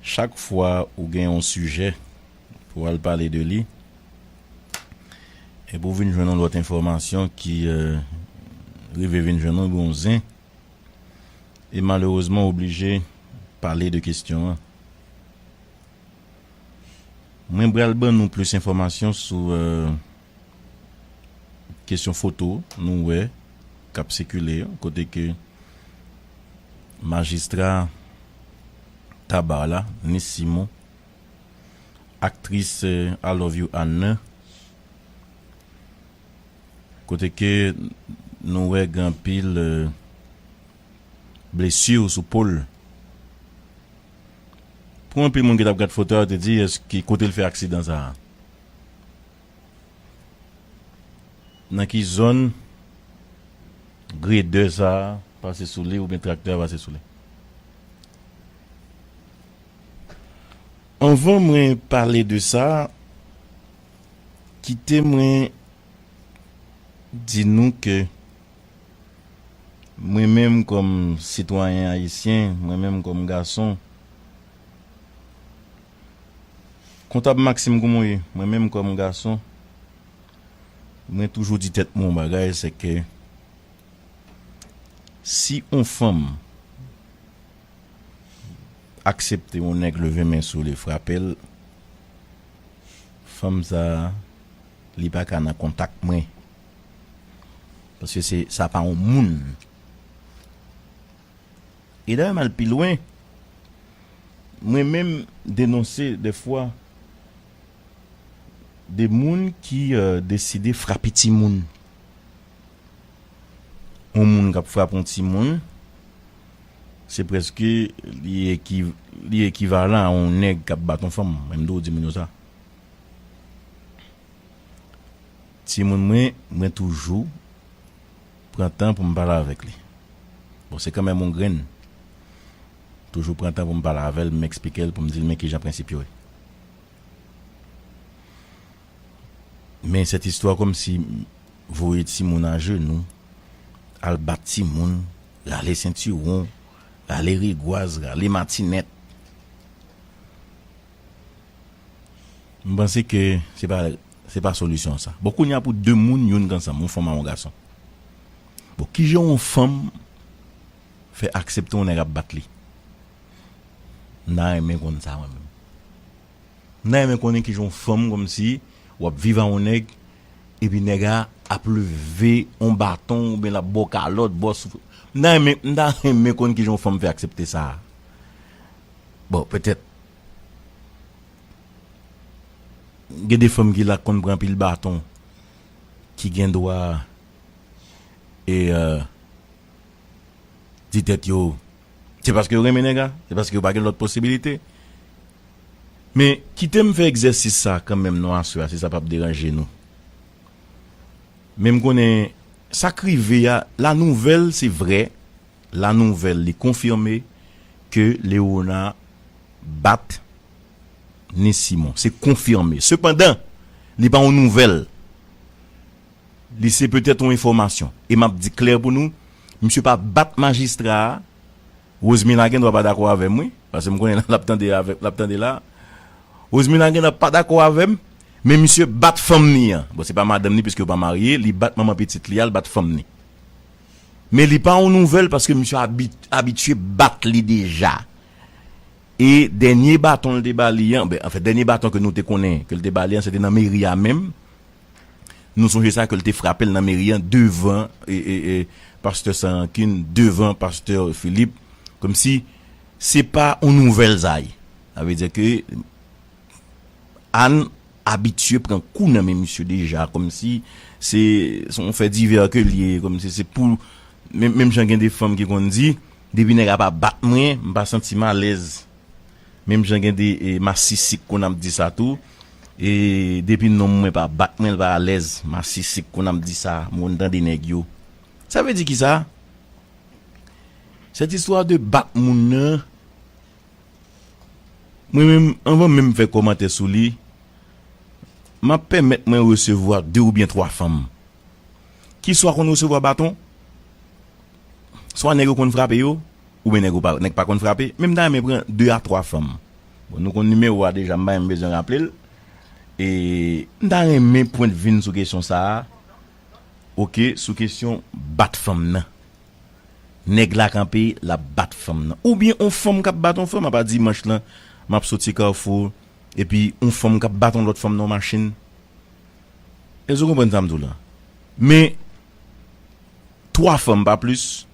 Chak fwa ou gen yon sijè pou w al pale de li, epi ou vin jwenn yon lòt enfòmasyon ki rive vin jwenn ou, ebyen w zen, e malerezman ou oblije pale de kesyon an. Mwen pral ban nou plis enfòmasyon sou. kesyon foto nou wè k ap sikile yo kote ke majistra Tabar la, Nice Simon, aktris Alovyou Anne, kote ke nou wè gen anpil blesi sou po l. Pou anpil moun ki t ap gad foto a yo te di èske kote l fè aksidan sa a? Nan ki zòn gredè sa a pase sou li oubyen traktè a pase sou li? Anvan mwen pale de sa, kite mwen di nou ke mwen menm kòm sitwayen ayisyen, mwen menm kòm gason, Kontab Maxime kouman w ye? Mwen menm kòm gason, mwen toujou di tèt mwen yon bagay, se ke si yon fanm aksepte yon nèg leve men sou li, frape l, fanm sa a, li pa ka nan kontak mwen. Paske se, sa pa yon moun. E dayè m al pi lwen, mwen menm denonse dèfwa de moun ki deside frape timoun. Yon moun k ap frape yon timoun, se prèske li ekivalan a yon nèg k ap bat yon fanm, menm dou di moun yo sa. Timoun mwen, mwen toujou Pran tan pou m pale avèk li. Bon, se kanmenm yon grenn. Toujou pran tan pou m pale avè l, m eksplike l pou m di l men kijan prensip yo ye. Men sèt istwa kòmsi voye timoun ajenou, al bat timoun, rale sentiwon, rale rigwaz, rale matinèt. M panse ke se pa. Se pa solisyon sa. Bon kounya pou 2 moun youn k ansanm, yon fanm a yon gason. Bon kijan yon fanm fè aksepte yon nèg ap bat li? M ta renmen konn sa mwen menm. M ta renmen konnen kijan yon fanm kòmsi w ap viv a yon nèg epi nèg a ap leve yon baton oubyen l ap ba w kalòt, ba w souf. M ta renmen, m ta renmen konn kijan yon fanm fè aksepte sa. Bon petèt. Gen de fanm ki la k konn pran anpil baton ki gen dwa e di tèt yo se paske yo renmen nèg a se paske yo pa gen lòt posibilite men kite m fè egzèsis sa kanmenm non aswè a si sa p ap deranje nou men m konnen sa k rive a la nouvèl se vrè La nouvèl li konfime ke Lerona bat Nise Simon. Se konfime. Sepandan, li pa yon nouvèl. Li se petèt yon enfòmasyon. E m ap di klè pou nou, misye pa bat majistra a. Rosemila gendwa pa dakò avè m wi, paske m konnen l ap tande avè, l ap tande la a. Rosemila gendwa pa dakò avè m, men misye bat fanm ni an. Bon, se pa madanm ni piske yo pa marye, li bat manman pitit li a, li bat fanm ni. Men li pa yon nouvèl paske misye abitye bat li deja. E dènye baton l te ba li an, ben anfen dènye baton ke nou te konnen ke l te ba li an se te nan meri a menm. Nou sonje sa ke l te frape l nan meri an devan Pastè San Rankin, devan Pastè Philippe. Komsi se pa yon nouvèl sa ye. Sa vle di ke Anne abitye pran kou nan men misye deja kòmsi se son fè divè ke l ye kòmsi se pou menm jan gen de fanm ki konn di depi nèg a pa bat mwen m pa santi m alèz menm jan gen de masisi k konn ap di sa tou e depi nonm mwen pa bat mwen l pa alèz masisi k konn ap di sa m konn tande nèg yo sa vle di kisa sèt istwa de bat moun nan. Mwen menm, anvan menm m fè kòmantè sou li, m ap pèmèt mwen resevwa de oubyen twa fanm ki swa konn resevwa baton, swa nèg yo konn frape yo, oubyen nèg yo pa nèg pa konn frape, men m ta renmen pran de a twa fanm. Bon nou konn nimewo a deja m pa menm bezwen raple l. E m ta renmen pwent vi n sou kesyon sa a, ok, sou kesyon bat fanm nan. nèg la kanpe lap bat fanm nan oubyen on fanm kap bat on fanm apa dimanch lan map soti carrefour epi on fanm kap bat on lòt fanm nan on machin èske ou konprann sam diw lan men 3 fanm pa plis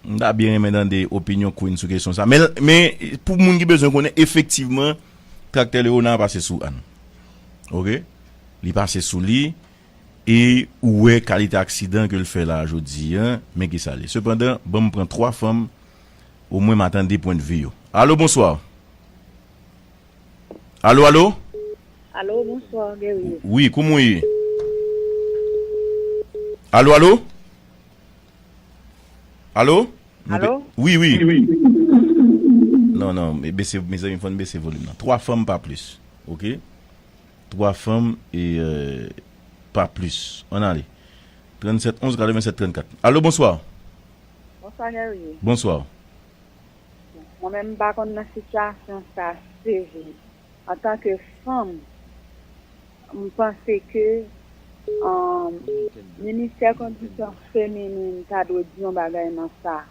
m ta byen renmen tande opinyon Queen sou kesyon sa men pou moun ki bezwen konnen efektivman traktè Léonard pase sou Anne ok li pase sou li E ou wè kalite aksidan ke l fè la a jodi a, men ki sa l ye. Sepandan, ban m pran 3 fanm, omwen ma tande pwendvi yo. Alo, bonswa! Alo, alo! Alo, bonswa, Guerrier! Wi, kouman ou ye? Alo, alo! Alo? Alo? Wi, wi! Non, non, bese, mezanmi, fò n bese volim nan. 3 fanm, pa plis. Ok? 3 fanm e pa plis. Ann ale. 37 11 87 34. Allo bonsoir. Bonsoir Guerrier. Bonsoir. Mwen menm m pa konn nan sitiyasyon sa sevre. An tan ke fanm m panse ke Ministè kondisyon feminin ta dwe di yon bagay nan sa.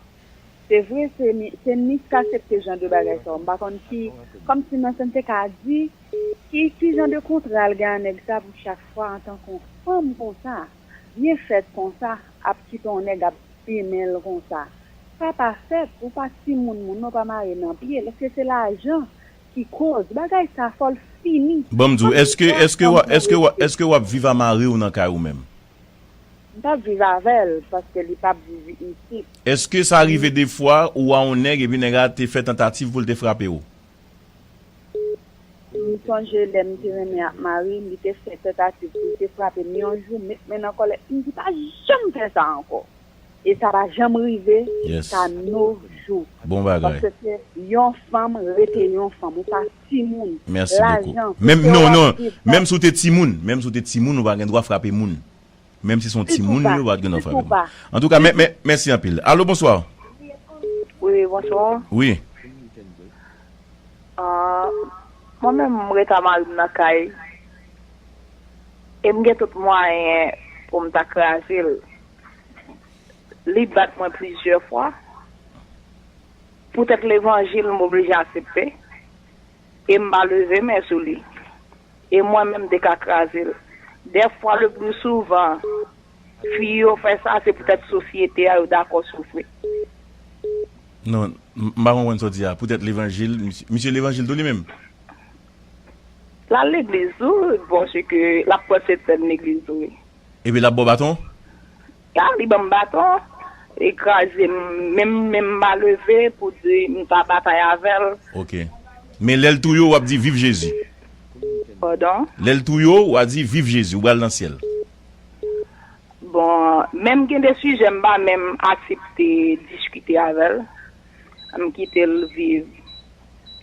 Se vre se ni k asepte jan de bagay sa yo m pa konn ki kòmsi nan sen te ka di ki ki jan de kontra l gen a nèg sa pou chak fwa antan kon fanm konsa byen fèt konsa ap kite yon nèg ap bimen l konsa sa pa fèt ou pa timoun moun nan ou pa mare nan pye l èske se lajan ki koz bagay sa fò l fini Banm di w èske èske wap èske wap èske wap viv a mariw nan kay ou menm. M pap viv avèl paske li pap viv isit. Eske sa rive defwa ou a on nèg epi nèg la te fè tantativ poul te frape ou? M sonje lèm te renmen ak marim li te fè tantativ poul te frapem yon jou met men nan kòlèt m di pa janm fè sa ankò. e sa pa janm rive jiska no jou paske se yon fanm rete yon fanm ou pa timoun lajan se ke wap viv menm si ou te timoun menm si ou te timoun ou pa gen dwa frape moun menm si son timoun li ou pat gen dwa frape moun antouka mèsi anpil alo bonswa wi bonswa wi mwen menm m ret a marim nan kay em gen tout mwayen poum ta krazel. Li bat mwen plizyè fwa. Poutèt levanjil m oblije asepte e m pa leve men sou li. E mwen menm m te ka kraze l. Dèfwa le plus souvent fi yo fè sa se poutèt sosyete a yo dakò soufri. Non, m pa konprann sa w di a. Poutèt levanjil, misye levanjil tou li menm? L al legliz tou, bon se ke l ap pran sentsèn legliz tou wi. Epi lap baw baton? Sa li banm baton, li kraze m menm menm ma leve pou di m ta batay avèl. Ok. Men lèl touye w wap di viv Jezi. Pardon? Lèl touye w wa di viv Jezi, ou bal nan syèl. Bon, menm gen de sijè m pa menm asepte diskite avèl. M kite l viv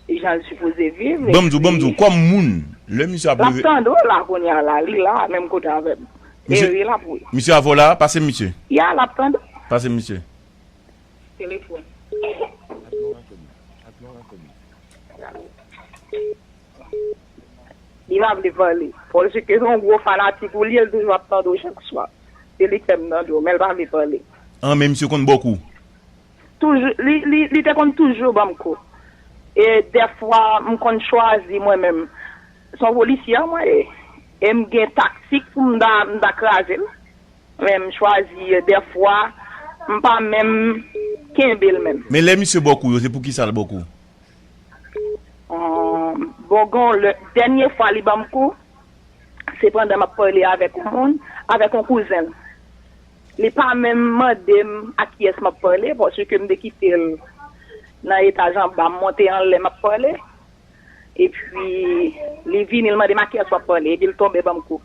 jan l sipoze viv e pi. Lap tande w la kounye a la, li la menm kote avè m. E wi lap wi. Ya lap tande w. Telefòn. Li pa vle pale. Paske se yon gwo fanatik ou li ye, l toujou ap tande w chak swa. Se li k fè m tande w men l pa vle pale. An men misye konn bò kou. Toujou, li, li, li te konn toujou ban m kou. E dèfwa m konn chwazi mwen menm. Se yon polisyè mwen ye. E m gen taktik pou m ta, m ta kraze l. Men m chwazi dèfwa m pa menm kenbe l menm. Men lè misye ba w kou yo, se poukisa l ba w kou? Bon gen yon lè, dènye fwa li ban m kou, se pandan m ap pale avèk yon moun, avèk yon kouzen l. Li pa menm mande m ak kiyès m ap pale paske m te kite l nan etaj anba, m monte anlè m ap pale. Epi li vini li mande m ak kiyès w ap pale epi l tonbe ban m kou.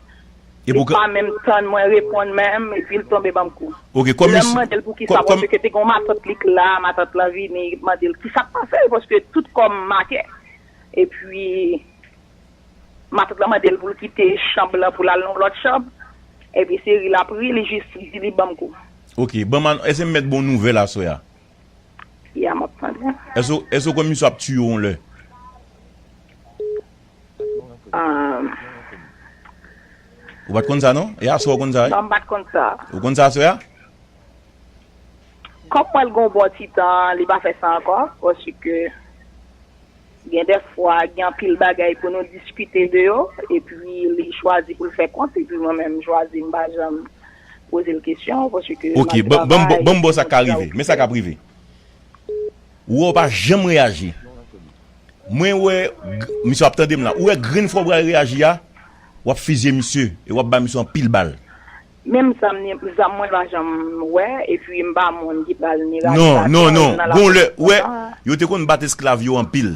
Li pa menm tann mwen reponn menm epi l tonbe ban m kou. Lè m mande l poukisa paske te gen yon matant li k la, matant lan vini mande l kisa k pase l paske tout kò m make. Epi. Matant lan mande l pou l kite chanm lan pou l al nan yon lòt chanm, epi se ri l ap ri, li jis di li ban m kou. Ok, ban m an, èske m mèt ba w nouvèl aswè a? Ya, m ap tande. Èske w kwè misye ap tiye w yon lè? Ou pa t konn sa non? E aswè a ou konn sa wi? Non, m pa t konn sa. Ou konn sa aswè a? Kòm m wè l gen yon bon ti tan, li pa fè sa ankò, pòsike. Gen dè fwa gen anpil bagay pou nou diskite de yo epi li chwazi pou l fè kont epi mwen menm m chwazi m pa janm poze l kesyon paske Ok, map ban m ban m bo sa k ka rive. Men sa k ap rive. Ou wè ou pa janm reyaji. Mwen wè misye ap tande m la. Ou wè grenn fwa ou pral reyaji a, w ap fizye misye e w ap bay misye anpil bal. Menm zam ni zam mwen pa janm wè epi m pa moun ki pral ni rale Non, non, ladanl non. nan Gon lè, lapolis ou wè, kontan. yo te konn bat esklav yo anpil.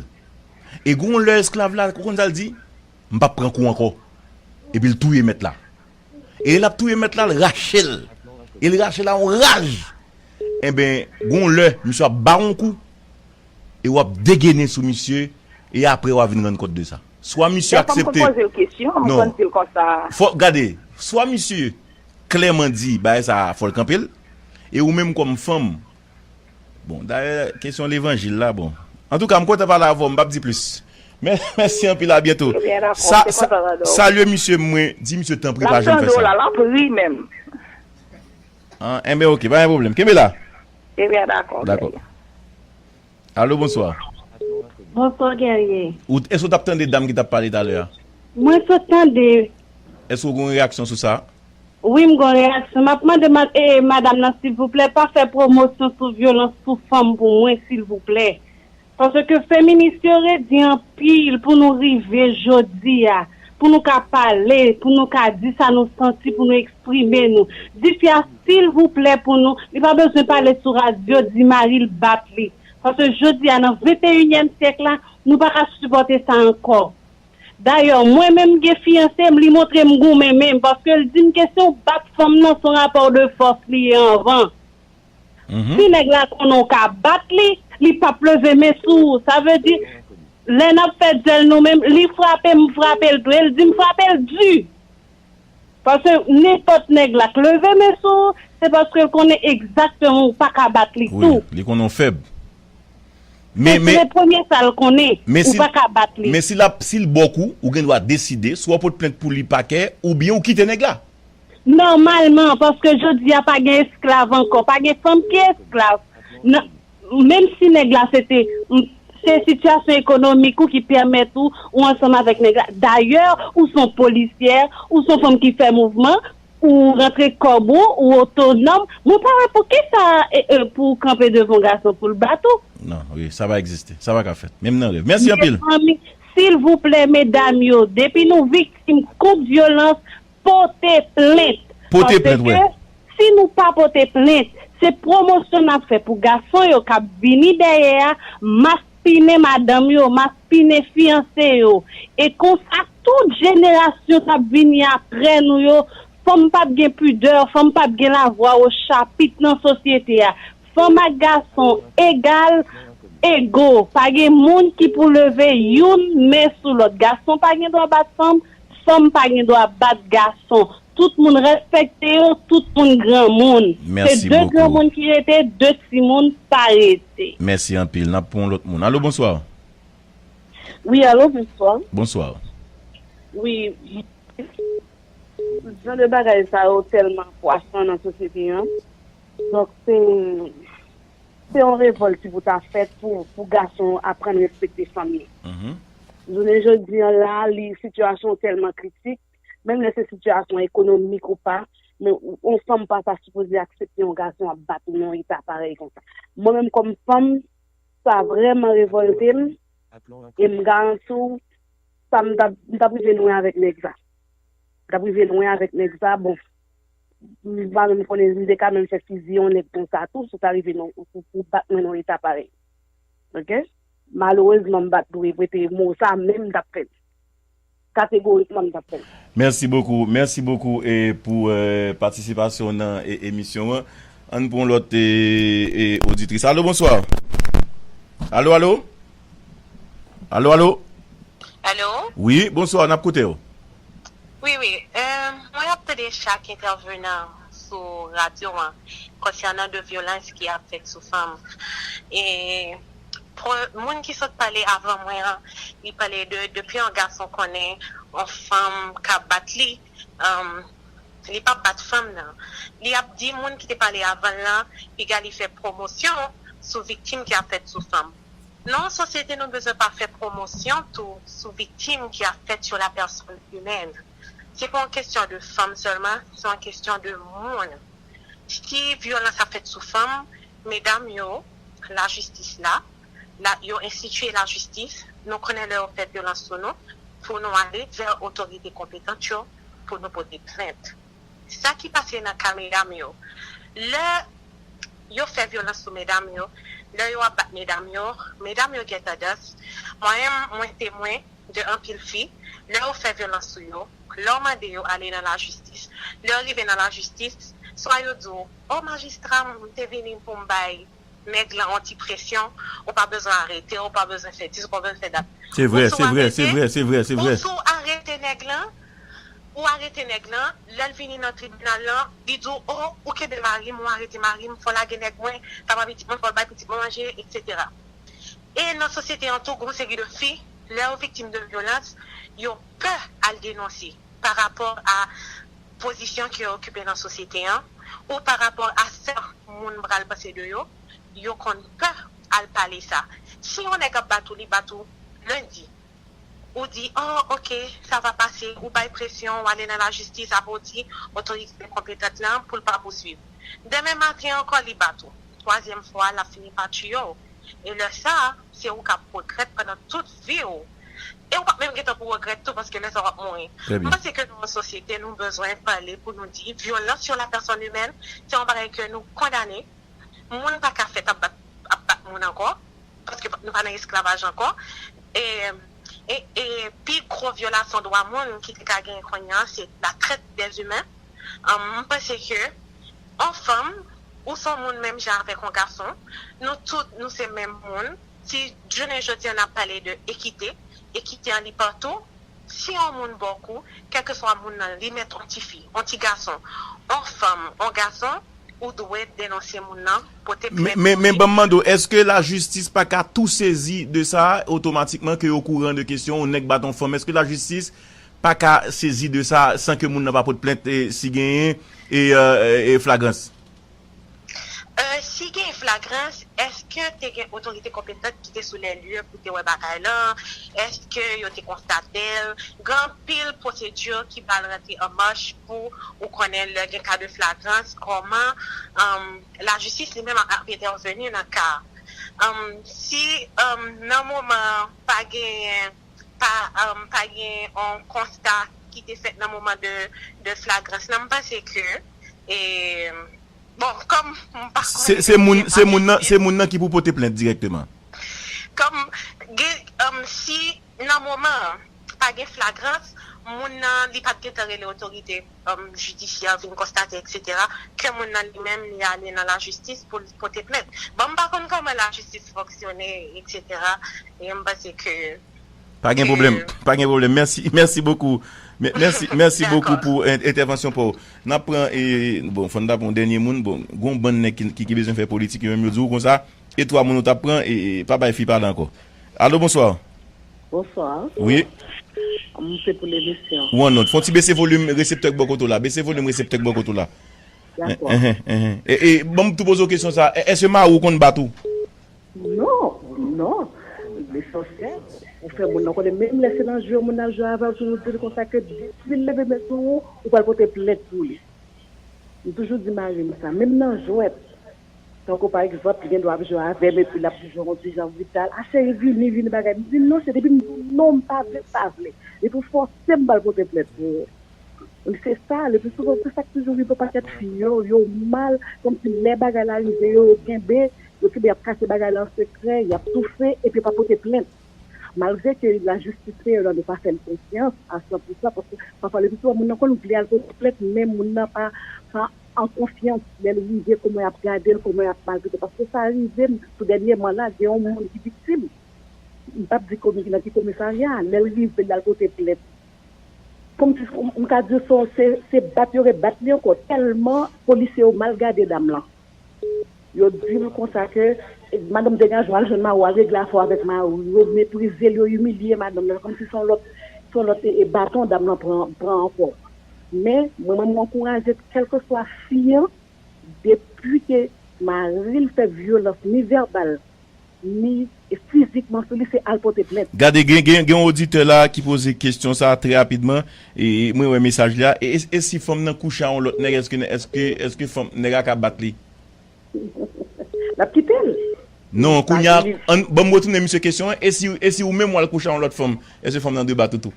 E gon lè esklav la, ou konn sa l di? M pap pran kou ankò. Epi l touye mèt la. E lè l ap touye mèt la, l rache l. E l rache l a yon raj. Enben, gon lè, misye ap ba w yon kou, e w ap degene sou misye, e apre w a vin rann kont de sa. Swa misye aksepte. Non. Fò, gade, swa misye klèman di bagay sa a fò l kanpe l, e ou menm kòm fanm, bon, dayè kesyon levanjil la, bon. Antouka, m kontan pale avè w, m pap di plis. Mèsi anpil, abyento. Sa, sa, salye misye mwen, di misye tanpri pa janm fè sa. An, enben ok, pa gen pwoblèm. Kenbe la. Dako. Allo bonswa. Bonswa Guerrier. Ou eske ou tap tande dam ki tap pale talè a? Mwen sot tande. Eske ou gon reyaksyon sou sa? Wi m gon reyaksyon. Map mande madam nan silvouplè pa fè pwomosyon sou vyolans sou fanm pou mwen silvouplè. Paske feminis yo redi anpil pou nou rive jodi a. pou nou ka pale, pou nou ka di sa nou santi, pou nou eksprime nou. Di fi a silvouplè pou nou, li pa bezwen pale sou radyo, di mari l bat li. Paske jodi a nan venteyinyèm syèk la, nou pa ka sipòte sa ankò. Dayè, mwen menm m gen fiyanse m, li montre m goumen men paske l di m ke si w bat fanm nan, s on rapò de fòs li ye anvan. Si nèg la konnen w ka bat li, li p ap leve men sou ou. Sa vle di, lè n ap fè dyèl nou menm, li frape m, m frape l tou. E l di m frape l di. Paske nenpòt nèg la k leve men sou ou, se paske l konnen egzakteman ou pa ka bat li tou. Wi, li konnen w fèb. Se le premye sa l konnen, ou pa ka bat li. Men si l ap, si l ba w kou, ou gen dwa deside, swa w pot plent pou li pakè, oubyen ou kite nèg la. Nòmalman, paske jodi a pa gen esklav ankò, pa gen fanm ki esklav. Menm si nèg la se te, se sitiyasyon ekonomik ou ki pèmèt ou, ou ansanm avèk nèg la. Dayè, ou son polisyè, ou son fanm ki fè mouvman, ou rantre kòb ou, ou otonòm. Mwen pa wè poukisa pou ou kanpe devan yon gason pou l bat ou. Non, wi, sa pa egziste. Sa pa ka fèt. Menm nan rèv. Mèsi anpil! Mezanmi, silvouplè medam yo, depi nou viktim kont vyolans, Pote plent. Pote plent wè. Paske si nou pa pote plent, se pwomosyon n ap fè pou gason yo k ap vini dèyè a maspinen madanm yo, maspinen fiyanse yo. E konsa tout jenerasyon k ap vini apre nou yo, fanm p ap gen pidè, fanm p ap gen lavwa wo chapit nan sosyete a. Fanm ak gason egal, ego. Pa gen moun ki pou leve youn men sou lòt. Gason pa gen dwa bat fanm. Fanm pa gen dwa bat gason. Tout moun respekte yo, tout moun granmoun. Se 2 granmoun ki rete, 2 timoun pa rete. Mèsi anpil. N ap pran yon lòt moun. Alo, bonswa. Wi, alo, bonswa. Bonswa. Wi, m. Jan de bagay sa yo tèlman pwasan nan sosyete an. Donk, se. Se yon revòlt ki pou ta fèt pou gason yo aprann respekte fanm yo. Jounen jodi an la, sitiyasyon tèlman kritik, menm lè se sitiyasyon ekonomik ou pa, men yon fanm pa ta sipoze aksepte yon gason ap bat li nan yon eta parèy konsa. Mwen menm kòm fanm, sa vrèman revòlte m, e m garanti w, sa m ta, m ta prive lwen avèk nèg sa. M ta prive lwen avèk nèg sa, bon. M pa menm konnen, m te ka menm fè fiziye yon nèg konsa tou, si w ta rive nan, pou bat mwen nan eta parèy. Ok? Malerezman m pa t dwe prete mo sa, men m t ap fè l. Kategorikman m t ap fè l. Mèsi bokou, mèsi bokou e pou patisipasyon w nan emisyon an. Ann pran yon lòt oditris. Alo, bonswa. Alo, alo. Alo, alo. Alo. Wi, bonswa, n ap koute w. Wi wi mwen ap tande chak entèvenan sou radyo an konsènan de vyolans ki ap fèt sou fanm e moun ki sot pale avan mwen an li pale de depi yon gason konnen yon fanm ka bat li li pap bat fanm nan li ap di moun ki te pale avanl lan piga li fè pwomosyon sou viktim ki ap fèt sou fanm. Non sosyete nou bezwen pa fè pwomosyon tou sou viktim ki ap fèt sou la pèsòn imèn. Se pa yon kesyon de fanm sèlman, se yon kesyon de moun. Si vyolans ap fèt sou fanm, medam yo, lajistis la, yo enstitye lajistis, nou konnen lè yo fè vyolans sou nou, pou nou ale vè otorite konpetant yo pou nou pote plent. Sa ki pase nan ka medam yo. Lè yo fè vyolans sou medam yo, lè yo ap bat medam yo, medam yo gen tandans, mwen menm mwen temwen de anpil fi, lè yo fè vyolans sou yo, lè w mande yo ale nan lajistis, lè yo rive nan lajistis, swa yo di w, o majistra m te vini pou m bay. Nèg lan on ti presyon, ou pa bezwen arete, ou pa bezwen fè dis, ou pa bezwen fè dat. Se vrè, se vrè, se vrè, se vrè, se vrè. Bon si w arete nèg lan, ou arete nèg lan, lè l vini nan tribinal lan, li di w, o, ou kenbe mari m, ou arete mari m, fò w lage nèg mwen, sa pa pitit mwen, fò l bay pitit mwen manje, eksetera. E nan sosyete an tou, gon seri de fi, lè yo viktim de vyolans, yo pè al denonse pa rapò a. pozisyon ke yo okipe nan sosyete an, ou pa rapò a sa moun pral panse de yo, yo konn pè al pale sa. Si yon nèg ap bat ou, li bat ou lendi, ou di, o, ok, sa va pase, ou bay presyon, ou ale nan lajistis, apre ou di otorite konpetant lan pou l pa pouswiv. Demen maten ankò li bat ou, twazyèm fwa a l ap fini pa tiye w, e lè sa a, se ou k ap regrèt pandan tout vi w. e ou pap menm gentan pou regrèt tou paske lè sa wap mouri. M panse ke nan yon sosyete nou bezwen pale pou nou di vyolans yon la pèsòn imèn se yon bagay ke nou kondane, moun pa ka fèt ap bat ap bat moun ankò paske nou pa nan esklavaj ankò e e pi gwo vyolasyon dwa moun ki te ka genyen kounye an se la trèt dèz imen m panse ke on fanm ou son moun menm jan avèk on gason nou tout nou se menm moun. Si jounen jodi an n ap pale de ekite, ekite an li patou, si on moun ba w kou, kèlkeswa moun nan, li mèt on ti fi, on ti gason, on fanm, on gason, ou dwe denonse moun nan, pote plent pou li. Men ban m mande w, èske lajistis pa ka tou sezi de sa a otomatikman ke yo kouran de kesyon on nèg bat on fanm? Èske lajistis pa ka sezi de sa a san ke moun nan pa pot plent si genyen flagrans? 1 si gen flagrans eske te gen otorite konpetant ki te sou lè lye pou te wè bagay lan, eske yo te konstatel, gen anpil pwosedi ki pral rantre an mach pou ou konnen lè gen ka de flagrans koman lajistis li menm ap entèveni nan ka a si nan moman an pa genyen pa genyen yon konsta ki te fèt nan moman de flagrans lan m panse ke. e bon kòm m pa konnen Se moun nan se moun nan se moun nan ki pou pote plent dirèkteman. Kòm gen si nan moman an pa gen flagrans moun nan li pat gentan rele otorite jidisyè vin konstate eksetera ke moun nan li menm li ale nan lajistis pou l pote plent. Bon m pa konn kòman lajistis fonksyone eksetera e m panse ke Pa gen pwoblèm, pa gen pwoblèm. Mèsi, mèsi bokou. Mèsi, mèsi bokou pou entèvansyon pa ou. N ap pran e, bon, fò n ta pran yon dènye moun. Bon, gen yon bann nèg ki bezwen fè politik, yo menm yo di ou konsa, e twa moun ou t ap pran e pa bay fi pale ankò. Alo, bonswa. Bonswa. Wi. M se pou lemisyon. Ou annonn. Fò n ti bese volim reseptè k bò kote w la. Bese volim reseptè k bò kote w la. Dakò. E, e, ban m tou poze w kesyon sa a. Èske mari w konn bat ou? Non! Non! Mesansè! Ou fè moun nan konnen menm lè se nan je w moun nan ap jwe avè w toujou di l konsa ke depi l leve men sou ou, ou pral pote plent pou li. M toujou di mari m sa, menm nan jwèt. Tankou pa egzanp li gen dwa ap jwe avè m epi l ap toujou yon ti jan brital, a cheri vini, vini bagay. M di non, se depi m di w non, m pa vle, m pa vle. Depi w fòse m, m pral pote plent pou ou. Donk se sa, le pli souvan se sa k toujou rive pakèt fi yo, yo mal, kòmsi lè bagay la rive yo, yo kenbe, Yo kenbe y ap kache bagay la an sekrè, y ap toufe epi yo pa pote plent. Malgre ke lajistis fè erè nou pa fè l konfyans a san pou san paske pafwa lepitou a moun nan konn vle al pote plent men moun nan pa an konfyans lè l rive kòman y ap gade l, kòman y ap maltrete l paske sa rive m tou dènyèman la gen yon moun ki viktim m p ap di nan ki komisarya lè l rive l al pote plent m ka di w se bat yo re bat li ankò tèlman polisye yo mal gade dam lan. Yo dil konsa ke madanm degaj ou al jwenn mariw al regle afèw avèk mariw yo meprizel yo imilye madanm nan kòmsi son lòt son lòt baton dam nan pran pran ankò men mwen menm mwen ankouraje kèlkeswa fi an depi ke maril fè vyolans ni vèbal ni fizikman sou li se al pote plent. Gade gen gen yon oditè la ki poze kesyon sa trè rapidman mwen wè mesaj li a e si fanm nan kouche a yon lòt nèg èske èske èske fanm nèg a ka bat li. Lap kitel. Non kounya an banm retounen misye kesyon an e si e si ou menm wal kouche a yon lòt fanm èske fanm nan dwe bat ou tou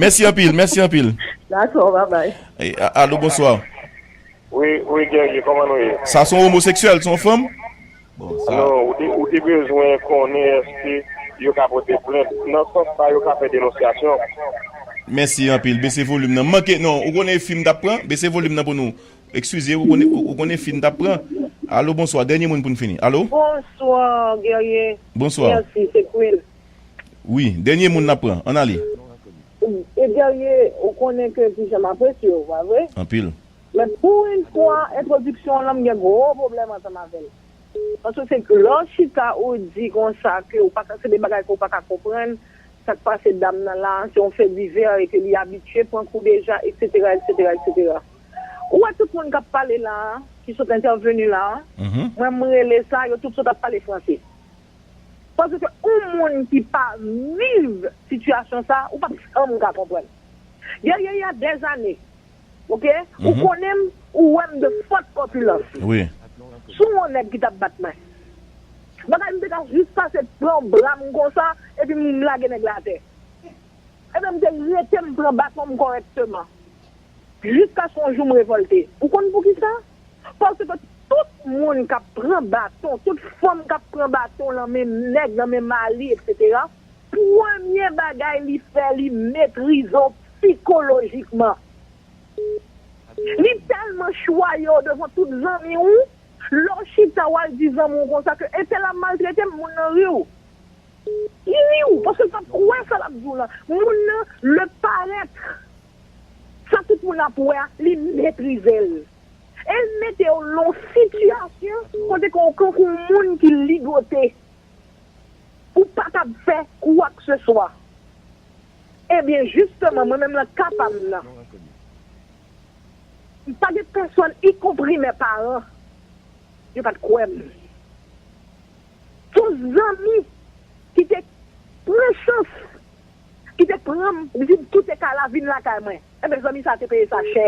mèsi anpil mèsi anpil. Dakò babay. Alo bonswa. Wi wi guerrier koman nou ye. Sa son omoseksyèl son fanm? Bon sa. Non ou te bezwen konnen eske yo ka pote plent nan sans sa yo ka fè denonsyasyon. Mèsi anpil bese volim nan manke non ou konnen fi m tap pran bese volim nan pou nou ekskuze ou konnen fi m tap pran alo bonswa dènye moun poun fini alo. Bonswa guerrier Bonswa mèsi se queen. Wi dènye moun nap pran ann ale. Guerrier ou konnen ke kijan m apresye w pa vre. Anpil. Men pou yn fwa entwodiksyon w lan m gen gwo pwoblèm ansanm avè l. Paske se lè w chita ou di konsa ke ou pa ka se de bagay ke w pa ka konprann, sa k pase dam nan la se yon fè divè e ke li abitye pran kou deja eksetera eksetera eksetera. Ou wè tout moun k ap pale la a ki sot entèveni la a, mwen m rele sa yo tout sot ap pale franse. Paske ke yon moun ki pa viv sitiyasyon sa a ou p ap janm ka konprann. Dèyè y a dèzane. Ok ou konnen m ou wè m de fòt kòpilans sou yon nèg ki t ap bat mwen bagay m te ka jis pase pran bra m konsa epi m lage nèg la atè ebyen m te rete m pran baton m kòrèkteman jiskaske yon jou m revòlte ou konn poukisa paske tout moun k ap pran baton tout fanm k ap pran baton nan men nèg nan men mari eksetera. Premye bagay li fè li metrize w psikolojikman. Li tèlman chwaye w devan tout zanmi w, lè w chita w al di zanmi w konsa ke entèl ap maltrete m, moun nan ri w. Li ri w paske l pa kwè sa l ap di w lan. Moun nan le paraître, sa tout moun ap wè a, li metrize l. E l mete w lon sitiyasyon kote ke w kankou w moun ki ligote. Ou pa kab fè kwakseswa. Ebyen, jisteman, mwen menm lan ka pa m nan, m pa gen pèsonn, ikonpri mè paran, yo pa t kwè m. Se yon zanmi ki te pran chans, ki te pran m, li di m kite kay la vin lakay mwen. Enben, zanmi sa a te peye sa chè.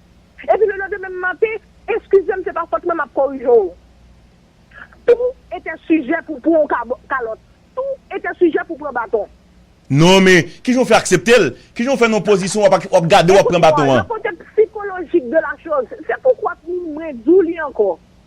Epi lelendemen m manke, eskize m se pa fòt mwen m ap korije w. Tou etè sijè pou pran w kalòt. Tou etè sijè pou pran baton. Non men, ki jan w fè aksepte l? Ki jan w fè nan yon pozisyon w ap gade w ap pran baton an? Ekoute mwen, nan kote psikolojik de la choz, se poukwa mwen di w li ankò.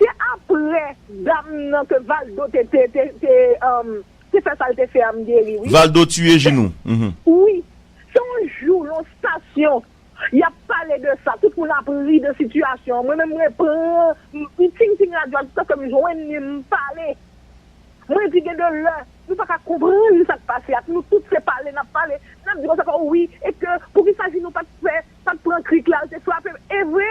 Se aprè dam nan ke valdo te te fè sal te fè a m geri wi. Valdo tiye jinou uhmm. Wi se yon jou yon stasyon yap pale de sa tout moun ap ri de sitiyasyon an mwen menm mwen pran m ting ting radyo a jiska kem jwenn li m pale mwen di gen de lè nou paka konprann sak pase ak nou tout se pale nap pale nap di konsa wi e ke poukisa jinou pat fè pat pran krik la al te frapem evre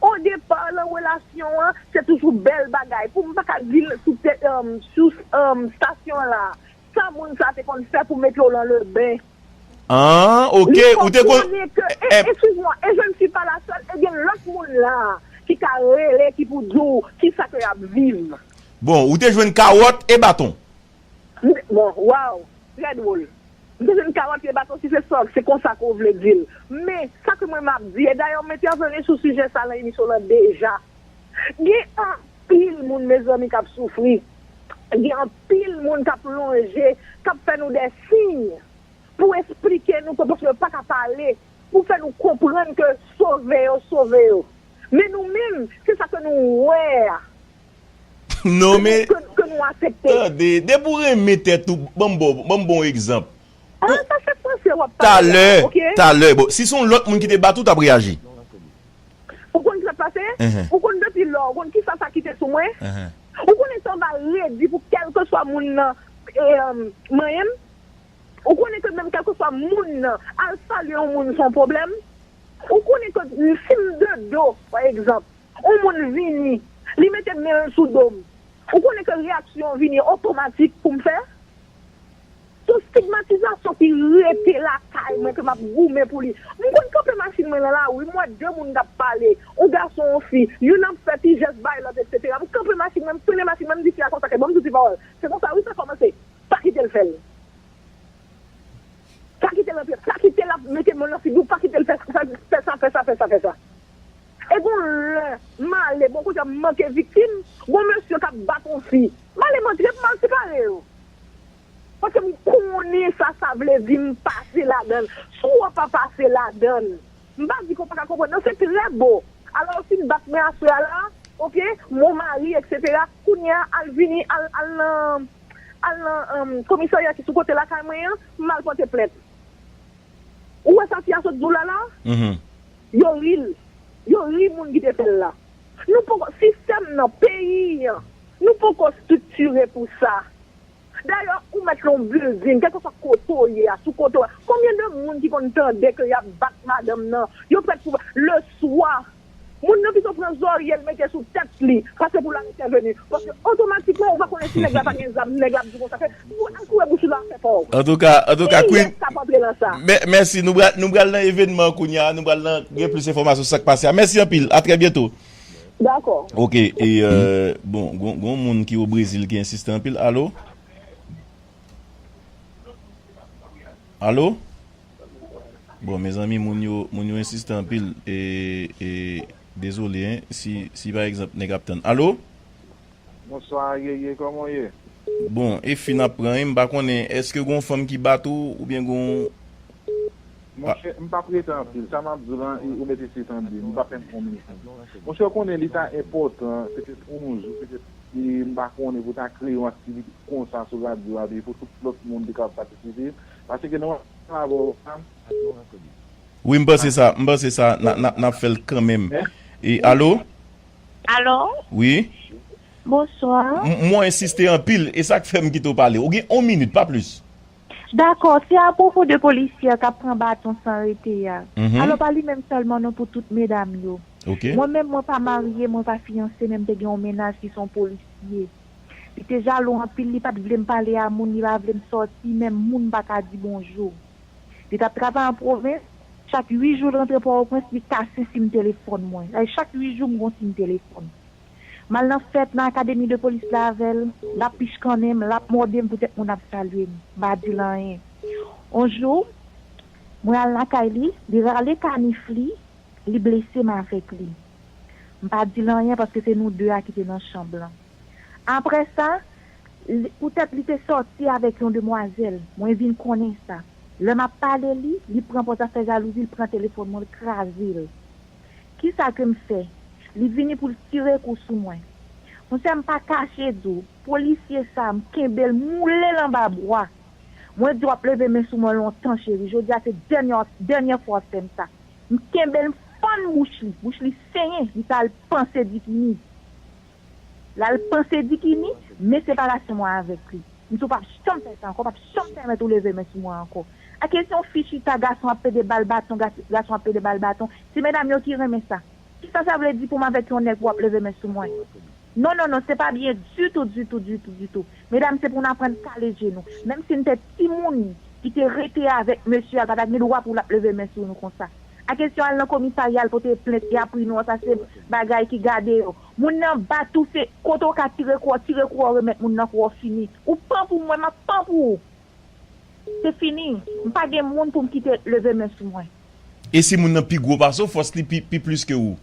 O depar lan relasyon an se toujou bèl bagay pou m paka di l sou tè sou stasyon an la sa moun sa te konn fè pou mete w lan leben. Aah ok Li ou te kon konprann ke e e eskiz mwa e je ne suis pas la seule e gen lòt moun la ki ka rele ki pou di w kisa ke y ap viv. Bon ou te jwenn kawòt e baton. Bon, waw! Trè dwol. M te jwenn kawòt ye baton sifle sò, se konsa ke w vle di l. Men, sa ke mwen m ap di, e dayè m entèveni sou sijè sa lan emisyon lan deja, gen anpil moun mezanmi k ap soufri, gen anpil moun k ap lonje, k ap fè nou dè siy pou esplike nou ke paske yo pa ka pale, pou fè nou konprann ke sove yo, sove yo. Men nou menm, se sa ke nou wè a. Non men Tande depi ou renmen tèt ou Banm banm bon egzanp Talè Talè bon si se yon lòt moun ki te bat ou tap reyaji Ou konn sak pase Ou konn depi lò ou konn kisa sa kite sou mwen Ou konnen sa mva redi pou kèlkeswa moun nan manyenm Ou konnen ke menm kèlkeswa moun nan al salye yon moun son pwoblèm Ou konnen ke sim de do pa egzanp. On moun vini, li mete men l sou do m. Ou konnen ke reyaksyon vini otomatik pou m fè? Son stigmatizasyon ki rete lakay mwen ke m ap goumen pou li. M konn kanpe machin mwen nan lari, m wè de moun k ap pale, on gason, on fi, youn ap fè ti jès bay lòt eksetera. M kanpe machin mwen, m frennen machin mwen, m di fi a konsa ke ban m di w ti pawòl, se konsa wi sa kòmanse, pa kite l fè l. Pa kite l antre, pa kite l ap mete men l nan figi w, pa kite l fè sa, fè sa, fè sa, fè sa, fè sa. E gon lè male bon kote m manke viktim, gon mesye k ap bat on fi, male m antre pou m al separe yo. Paske m konnen sa sa vle di m pase ladan l. Si w wè w pa pase ladan l, m pa di ke w pa ka konprann non, se trè bo. Alò w fin bat mwen aswè a la, ok, m on mari eksetera, kounye a al vini, al nan, al nan komisarya ki sou kote lakay mwen an, m al pòte plent. Ou wè sa fi a sot di w la la a? Yo ri l. Yo ri moun ki te fè l la. Nou poko, sistèm nan, peyi an, nou poko striktire pou sa. Dayè, ou mèt lon bilding, kèlkeswa kote w ye a, sou kote w ye a, konbyen de moun ki konn tande ke y ap bat madanm nan, yo prèt pou, leswa, moun nan pito pran zòrye l mete sou tèt li, pase pou l al entèveni. Paske otomatikman ou va konnen si nèg la pa gen zam, nèg la ap di w konsa ke Ou al foure bouch ou nan afè pa w. Antouka, antouka Queen. Kiyès kap antre nan sa? Mè, mèsi. Nou pral, nou pral nan evènman an kounye a. Nou pral nan, gen plis enfòmasyon sou sa k pase a. Mèsi anpil. A trè byento. Dakò. Ok. E, bon, gon, gon yon moun ki o Brezil ki ensiste anpil. Alo? Alo? Bon, mezanmi, moun yo, moun yo ensiste anpil. E, e, dezole, hein, si, si pa egzanp nèg ap tann. Alo? Bonswa Yeye koman w ye? Bon e fi nap pran wi m pa konnen eske gon fanm ki bat ou oubyen gon. Monchè m pap rete anpil sa map diw lan ou mete ti tan di m pa fèm on minit non monchè ou konnen li ta enpòtan petèt on jou petèt m pa konnen pou ta kreye yon aktivite konsa sou radyo a pou tout lòt moun te kapab patisipe paske nan lavwa ou la. Wi m panse sa m panse sa nap fèl kanmenm alo. Alo? Wi. Bonsoir. M wè w ensiste anpil, e sa k fè m kite w pale. Ou gen yon minit, pa plis. Dakò, se apwopo de polisyè a k ap pran baton san rete a. Alò pa li menm sèlman non pou tout medam yo. Mwen menm mwen pa marye, mwen pa fiyanse men m te gen yon mennaj ki se yon polisye. Li te jalou anpil, li pa t vle m pale a moun, li pa vle m sòti, menm moun m pa ka di bonjou. Li t ap travay an pwovens. Chak uit jou l rantre Pòtoprens, li kase sim telefòn mwen. Sa vle di chak uit jou m gon sim telefòn. M al nan fèt, nan akademi de polis la avè l. L ap pichkannen m, l ap mòde m poutèt moun ap salye m. M pa di l anyen. On jou, mwen al lakay li, li rale kanif li, li blese m avèk li. M pa di l anyen paske se nou de a ki te nan chanm lan. Apre sa, Li, poutèt li te sòti avèk yon demwazèl. Mwen vin konnen sa. Lè m ap pale li, li pran pou zafè jalouzi, l pran telefòn mwen, l kraze l. Kisa ke m fè? Li vini pou l tire kou sou mwen. Monsè, m pa kache di w, polisye sa a, m kenbe l, m woule l anba bwa. Mwen di w ap leve men sou mwen lontan, cheri. Jodi a se dènyè, dènyè fwa w ap fè m sa. M kenbe l, m fann bouch li. Bouch li senyen. Li ta al panse bikini. Lal panse dikini, men separasyon mwen avèk li. M di w pap janm fè sa ankò, pap janm pèmèt ou leve men sou mwen ankò. Ak e se yon fi chita gason ap pede bal baton, gason ap pede bal baton, ti medam yo ki renmen sa. Kisa sa vle di pou m avèk yon nèg pou wap leve men sou mwen. Non non non se pa byen ditou ditou ditou ditou. Medam se pou n aprann kale je nou. Menm si n te timoun ki te rete avèk mesye a pa ta gen dwa pou lap leve men sou nou konsa. Ak e si yo al nan komisarya al pote plent e apri nou an sa se bagay ki gade yo. Moun nan bat ou se kote ou ka tire kou an tire kou an remèt moun nan kou an fini ou pan pou mwen map pan pou ou se fini m pa gen moun pou m kite leve men sou mwen. E si moun nan pi gwo pase w fòs li pi plis ke ou.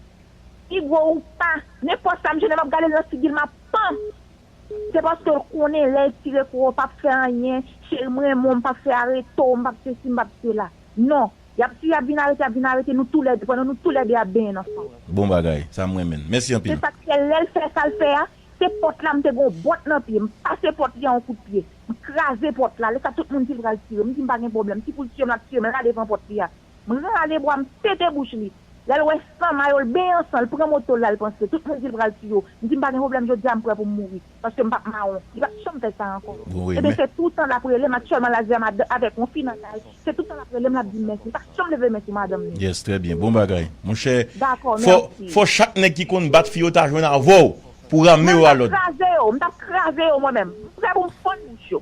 Pi gwo ou pa nenpòt sa m jene map gade l nan figi l map pan se paske l konnen lèl tire kou an pap fè anyen cheri m renmen w m pap fè areto w m pap sesi m pap sela non Yap tiye yap vin arete yap vin arete nou tou lè 2 pandan nou tou lè 2 ap benyen nan san. Bon bagay, sa m renmen n. Mèsi Se anpil. sak fè lèl fè sal fè a se pòt la m te gon bòt nan pye m pase pòt li a yon kout pye m kraze pòt la lè sa tout moun di l pral tire m di m pa gen pwoblèm si pou l tiyem lap tiyem la devan pòt li a m rale bwa m pete bouch li lè l wè san mayo l benyen an san l pran moto l la l panse tout moun di l pral tiye w m di m pa gen pwoblèm jodi a m prè pou m mouri. Paske m pap mawon. Li pap janm fè sa ankò. Ebyen se toutan lap rele m aktyèlman la di a madanm avèk yon fi nan kay se toutan lap rele m lap di m mèsi. Li pa janm leve men sou madanm li. Yes trè byen bon bagay monchè fò chak nèg ki konn bat fi yo ta jwenn avèw pou ramenw a lòd. Mwen tap kraze yo mwen menm. M prè pou m fann bouch yo.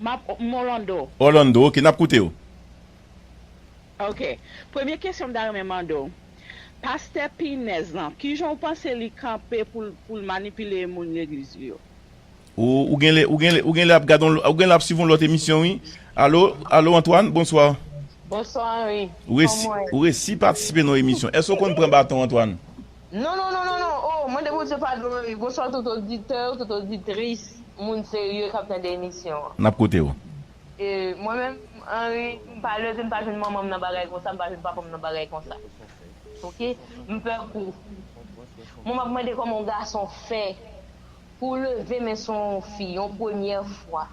Map m Orlando. Orlando ok nap koute w. Ok premye kesyon m ta renmen mande w pastè pinèz lan kijan w panse li kanpe pou l pou l manipile moun legliz li yo. Ou ou genlè ou genlè ou genlè ap gad on ou genlè ap swiv on lòt emisyon wi Allo Allo Antoine bonsoir. Bonsoir Henry Ou resi kòman ou ye? ou resi patisipe nan yon emisyon èske ou konn pran baton Antoine? Non non non non non oh mande Bondye padon wi bonswa tout oditè yo tout oditris moun serye kap tande emisyon an. Nap koute w. E mwen menm Henri m pa leve m pa jwenn manman m nan bagay konsa m pa jwenn papa m nan bagay konsa ok m pè kou mwen map mande kòman yon gason fè pou leve men sou yon fi yon premyè fwa.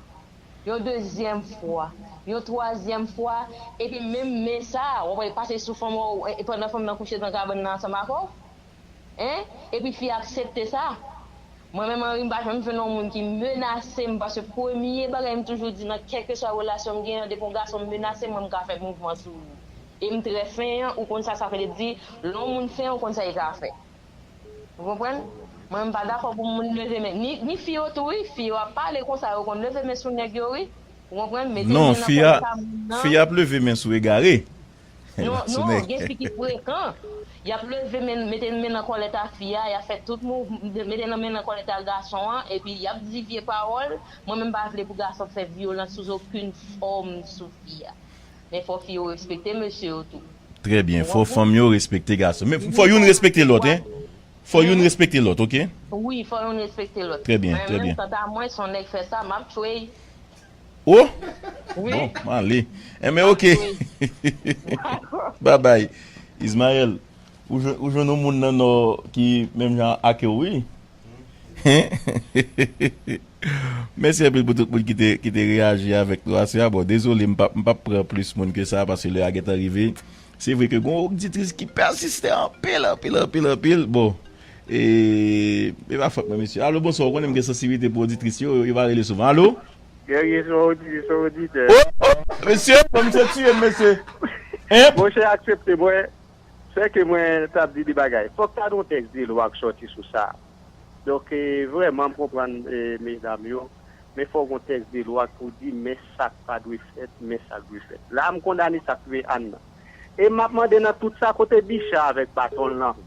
yon dezyèm fwa, yon twazyèm fwa, epi menm men sa a, w ap wè li pase sou fanm ou pandan fanm nan kouche nan kabann nan ansanm ak ou, en, epi fi a aksepte sa. Mwen menm Henri m pa janm jwenn yon moun ki menase m paske premye bagay m toujou di nan kèlkeswa relasyon m gen an depi yon gason menase m mwen m ka fè mouvman sou ou e m trè fenyan ou konn sa sa vle di lè yon moun fenyan ou konn sa li ka fè. Ou konprann? Mwen m pa dakò pou moun leve men. Ni ni fi yo tou wi, fi yo ap pale konsa yo konn leve men sou nèg yo wi. Ou konprann? Mete Non, men nan fi a, kòlè pa moun nan. fi a ap leve men sou egare, e Non, pa sou non, nèg. gen fi ki frekan. Y ap leve men, mete men nan kòlèt a fi a, y ap fè tout mouv, mete nan men nan kòlèt a gason an, epi y ap di vye pawòl. Mwen menm m pa vle pou gason fè vyolans sou zokenn fòm sou fi a. Men fò fi yo respekte mesye yo tou. Trè byen fò fanm yo respekte gason men fò youn respekte lòt hein fò youn respekte lòt ok. Wi fò youn respekte lòt. Trè byen trè byen. Kanta mwen son nèg fè sa map tchwey. Oh bon m ale enben ok babay Ismael ou jwenn yon moun nan nò ki menm jan akew wi. Mèsi anpil pou tout moun ki te reyaji avèk nou aswè a. Bon, dezole m pap pran plis moun ke sa paske lè a gentan rive. Se vre ke gen yon oditris ki pèsiste anpil, anpil, anpil, anpil. Bon, e pa fòt mwen mesye. Alo, bonswa. Ou konnen m gen sansibilite pou oditris yo, yo pa rele souvan. Alo? Guerrier se yon oditris, se yon oditè. Ohh! Mesye, bon misye tiye m mesye. Monchè aksepte mwen. Sè ke mwen tap di de bagay. Fok ta gen yon tèks de lwa k sòti sou sa. Donk vrèman m konprann medam yo, men fok yon tèks de lwa pou di men sak pa dwe fèt, men sak dwe fèt. La m kondane sak touye Anne nan. E map mande nan tout sa kote Bicha avèk baton l lan?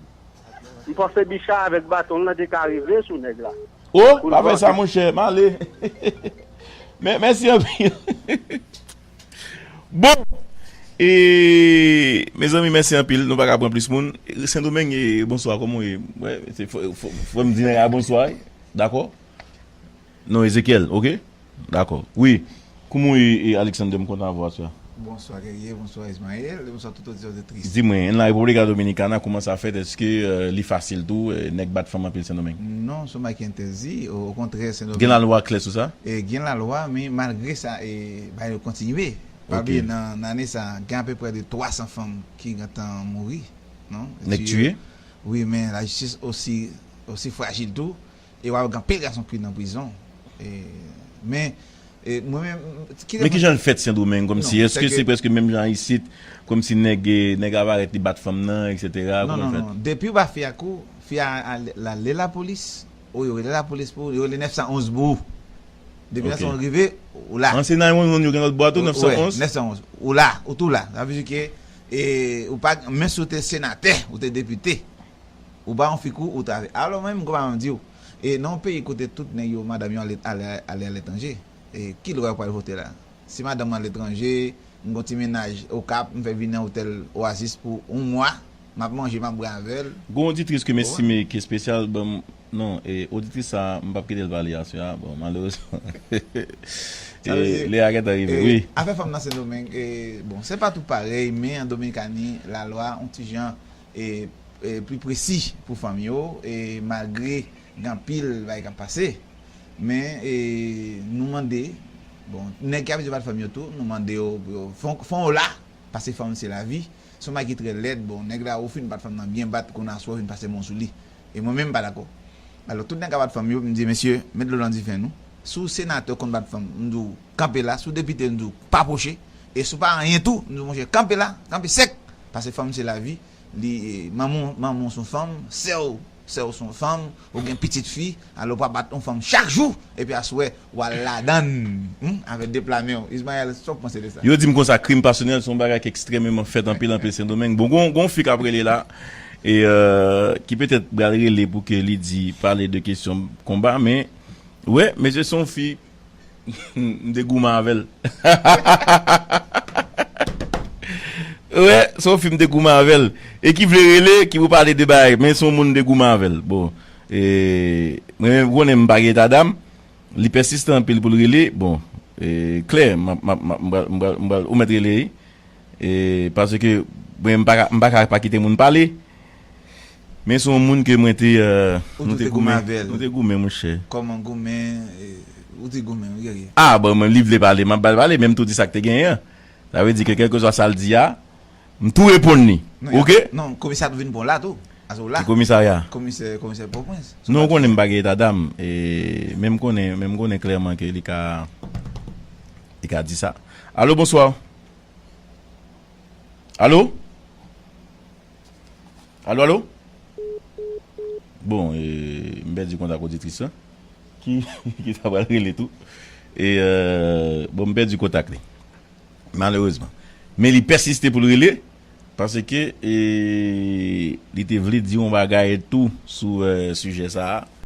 M panse Bicha avèk baton l lan te ka rive sou nèg la. Oh! Pa fè sa monchè, m ale. Mèsi anpil. Bon E Mezanmi mèsi anpil nou paka pran plis moun Sendomeng e bonswa kòman ou ye Fòm di nèg a bonswa wi dakò Non Ezekiel ok dakò wi Kouman ou ye Alexander m kontan avè w aswè a. Bonswa Guerrier, bonswa Ismael, e bonswa tout oditè oditris. Di mwen, nan República Dominicana kouman sa fèt eske li fasil tou nèg bat fanm anpil Sendomeng? Non, son bagay ki entèdi, okontrè Sendomeng. Gen lalwa klè sou sa? Gen lalwa men malgre sa Bay yo kontinye. Pa bliye nan ane sa a, gen apeprè de 300 fanm ki gentan mouri, non? Nèg tiye? Wi, men lajistis osi osi frajil tou. E wap gen anpil gason ki nan prizon. E men e mwen menm ki lè Men kijan l fèt Sendomeng kòmsi? Èske se prèske menm jan isit? Kòmsi nèg nèg ava rèt li bat fanm nan eksetera? Non, non, non. Depiw ba fi a kou, fi a al lale lapolis, ou yo rele lapolis pou ou, yo rele 911 pou ou. Depi 911 rive, ou la. Ansyen 911 yo gen lòt bwa tou, 911? Wi, 911. Ou la, ou tou la. Sa vle di ke, e, ou pa, menm si ou te senatè, ou te depite, ou pa yon fikou, ou ta. Alò mwen menm, konpa mwen di ou, e, nan yon peyi kote tout nèg yo, madanm yo ale, ale aletranje, e, ki lwa yo pral vote la? Si madanm mwen aletranje, m gen yon ti mennaj Okap, m fè vini nan otèl Oasis pou yon mwa, Map manje map bwè avèl. Gon oditris kem estime ki espesyal banm non e oditris sa m pap kitel pale aswè a bon malerezman e lè a gentan rive wi. Afè fanm nan sendomeng e bon sepa tou parèy men an dominikani lalwa on ti jan e pli presi pou fanm yo e malgre gen anpil bagay kap pase men e nou mande bon nèg ki abitye bat fanm yo tou nou mande yo pou yo fon yo la Pase fanm se lavi. Son bagay ki trè lèd bon nèg la ou fin bat fanm nan byen bat kounye a sou a ou vin pase men w sou li e mwen menm m pa dakò alò tout nèg a bat fanm yo m di mesye met dlo nan dife nou si w senatè w konn bat fanm m di w kanpe la si w depite m di w pa pwoche e si w pa anyen tou m di w monchè kanpe la kanpe sèk pase fanm se lavi li manman w manman w son fanm sè w Sèw son fanm, ou gen pitit fi, alò ou pa bat on fanm chak jou epi aswè wal ladann humm avè 2 pla menw Ismael sa ou panse de sa? Yo dim konsa krim pasyonèl son bagay ki ekstrèmeman fèt anpil anpil sendomeng bon gon gon fi kap rele la e ki petèt bal rele pou ke li di pale de kesyon konba men wè mesye son fi M te goumen avèl. Wè son film te goumen avèl e ki vle rele ki pou pale de bagay men son moun m te goumen avèl bon mwen menm konnen m pa gen eta dam li pèsistan anpil pou l rele bon klè mwen ou mèt rele paske mwen m pa ka pa kite moun pale Men son moun ke mwen te Ou tou te goumen avèl Nou te goumen monchè Kòman goumen Ou di goumen wi gèryè. Ah bon li vle pale map bal pale men m tou di sak te genyen an sa vle di ke kelkeswa sal di a m tou reponn li ok. Non komisè a tou vin pran w la tou pase w la. Ki komisarya? Komisè komisè pòprens. Non ou konnen m pa gen etadam e men m konnen men m konnen klèman ke li ka li ka di sa. Alo bonswa Alo? Alo alo Bon e m pèdi kontak oditris lan ki ta pral rele tou e bon m pèdi kontak li malerezman men li pèsiste pou l rele paske e li te vle di yon bagay tou sou sijè sa a.